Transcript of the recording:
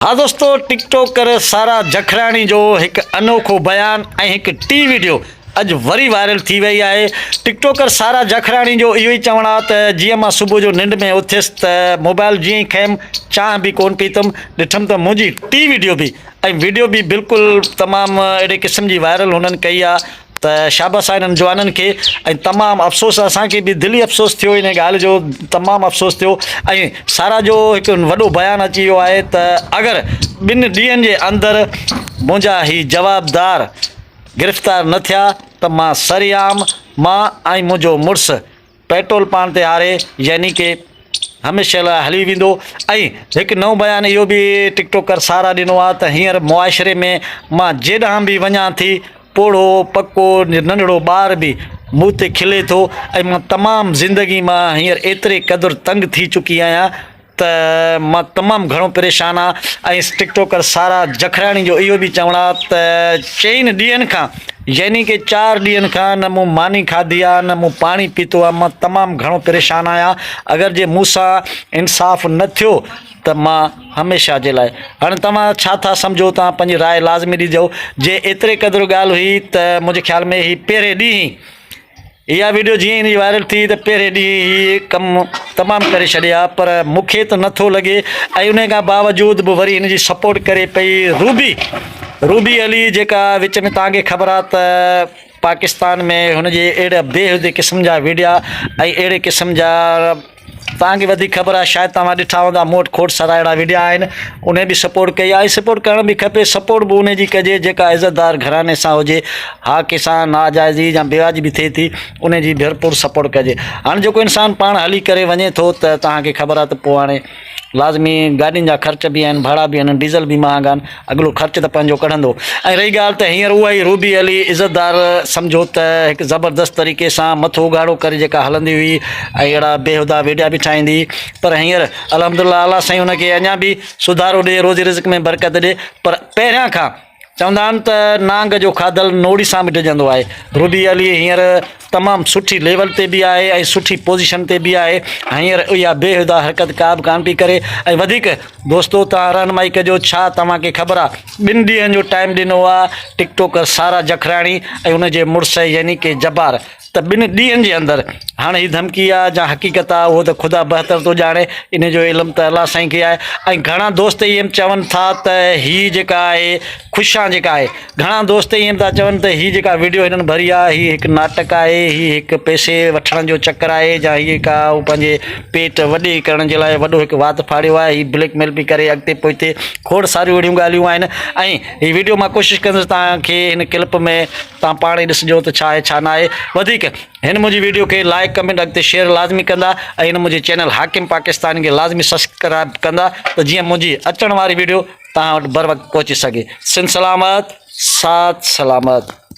ها دوستو TikToker Sara Jakhrani جو هڪ انوکو بيان ۽ هڪ ٽي ويڊيو اڄ وري وائرل ٿي وئي آهي ٽڪ ٽوڪر سارا جکڙاڻي جو اهو ئي چوڻ آهي ته جيئن مان صبح جو ننڊ ۾ اٿيس ته موبائل جيئن ئي کنيم چانهه به ڪون پيتم ڏٺم ته منهنجي ٽي ويڊيو به ۽ ويڊيو به بلڪل تمام اهڙي قسم جي وائرل هنن ڪئي آهي ته شاباس آ انهن جوانن کي ۽ تمام افسوس اسان کي به دلي افسوس ٿيو انهي ڳالهه جو تمام افسوس ٿيو ۽ سارا جو هڪ وڏو بيان اچي ويو آهي ته اگر ٻن ڏينهن جي اندر منهنجا هي جوابدار گرفتار نه ٿيا ته مان سرعام مان ۽ منهنجو مڙس پيٽرول پاڻ تي هاري يعني ڪي هميشه لاء هلي ويندو ۽ هڪ نئون بيان اهو به ٽڪ ٽوڪر سارا ڏنو آهي ته هينئر معاشري ۾ مان جيڏانهن به وڃان ٿي پوڙهو پڪو ننڍڙو ٻار به مون تي کلي ٿو ۽ مان تمام زندگي مان هينئر ايتري قدر تنگ ٿي چڪي آهيان ته مان تمام گهڻو پريشان آهيان ۽ ٽڪ ٽوڪر سارا جکراڻي جو اهو به چوڻ آهي ته چئن ڏينهن کان يعني ڪي چار ڏينهن کان نه مون ماني کاڌي آهي نه مون پاڻي پيتو آهي مان تمام گهڻو پريشان آهيان اگر جي مون سان انصاف نه ٿيو ته مان هميشه جي لاء هاڻي توهان ڇا ٿا سمجهو توهان پنهنجي راء لازمي ڏجو جي ايتري قدر ڳالهه هئي ته منهنجي خيال ۾ هي پهرين ڏينهن اها وڊيو جيئن ئي وائرل ٿي ته پهرين ڏينهن هي ڪم تمام ڪري ڇڏيا پر مون کي ته نه ٿو لڳي ۽ انهي کان باوجود به وري هن جي سپورٽ ڪري پئي روبي روبي علي جيڪا وچ ۾ توهان کي خبر آهي ته پاڪستان ۾ هن جي اهڙا بيهودي قسم جا وڊيا ۽ اهڙي قسم جا توهان کي وڌيڪ خبر آهي شايد توهان ڏٺا هوندا مون وٽ کوٽ سراهيڙا وڊيا آهن انهي به سپورٽ ڪئي آهي سپورٽ ڪرڻ به کپي سپورٽ به انهي جي ڪجي جيڪا عزت دار گهراڻي سان هجي ها ڪنهن سان ناجائزي يا بيواجبي ٿئي ٿي انهي جي ڀرپور سپورٽ ڪجي هاڻي جيڪو انسان پاڻ هلي ڪري وڃي ٿو ته توهان کي خبر آهي ته پوء هاڻي لازمي گاڏين جا خرچ به آهن ڀاڙا به آهن ڊيزل به مهانگا آهن اڳلو خرچ ته پنهنجو ڪڍندو. ۽ رهي ڳالهه ته هينئر اها ئي روبي علي عزتدار سمجهو ته هڪ زبردست طريقي سان مٿو اگهاڙو ڪري جيڪا هلندي هئي ۽ اهڙا بيهودا ويڊيا به ٺاهيندي هئي پر هينئر الحمدلله اعليٰ سائين ان کي اڃا به سڌارو ڏي روزي رزق ۾ برڪت ڏي پر پهريان کان چوندا آهن ته نانگ جو کاڌل نوڙي سان به ڊڄندو آهي روبي علي هينئر تمام سٺي ليول تي به آهي ۽ سٺي پوزيشن تي به آهي هينئر اها بيهودا حرڪت ڪا به ڪانه پئي ڪري ۽ وڌيڪ دوستو توهان رهنمائي ڪجو ڇا توهان کي خبر آهي ٻن ڏينهن جو ٽائيم ڏنو آهي ٽڪ ٽوڪر سارا جکراڻي ۽ ان جي مڙس يعني ڪي جبار ته ٻن ڏينهن جي اندر هاڻ هي ڌمڪي آهي جا حقيقت آهي اهو ته خدا بهتر ٿو ڄاڻي ان جو علم ته الله سائين کي آهي ۽ گهڻا دوست ايم چون ٿا ته هي جيڪا آهي خوشان جيڪا آهي گهڻا دوست ائين به ٿا چون ته هي جيڪا وڊيو هنن ڀري آهي هي هڪ ناٽڪ آهي، هي هڪ پئسي وٺڻ جو چڪر آهي جا هي ڪا هو پنهنجي پيٽ وڏي ڪرڻ جي لاء وڏو هڪ وات ڦاڙيو آهي، هي بليڪ ميل پئي ڪري اڳتي پوئتي کوڙ ساريون اهڙيون ڳالهيون آهن ۽ هي وڊيو مان ڪوشش ڪندس توهان کي هن ڪلپ ۾ توهان پاڻ ئي ڏسجو ته ڇا آهي ڇا نه آهي وڌيڪ هن منهنجي وڊيو کي لائيڪ ڪمينٽ اڳتي شيئر لازمي ڪندا ۽ هن منهنجي چينل حاڪم پاڪستان کي لازمي سسڪرائب ڪندا ته جيئن منهنجي اچڻ واري وڊيو توهان وٽ بروقت پهچي سگهي. سنڌ سلامت ساٿ سلامت.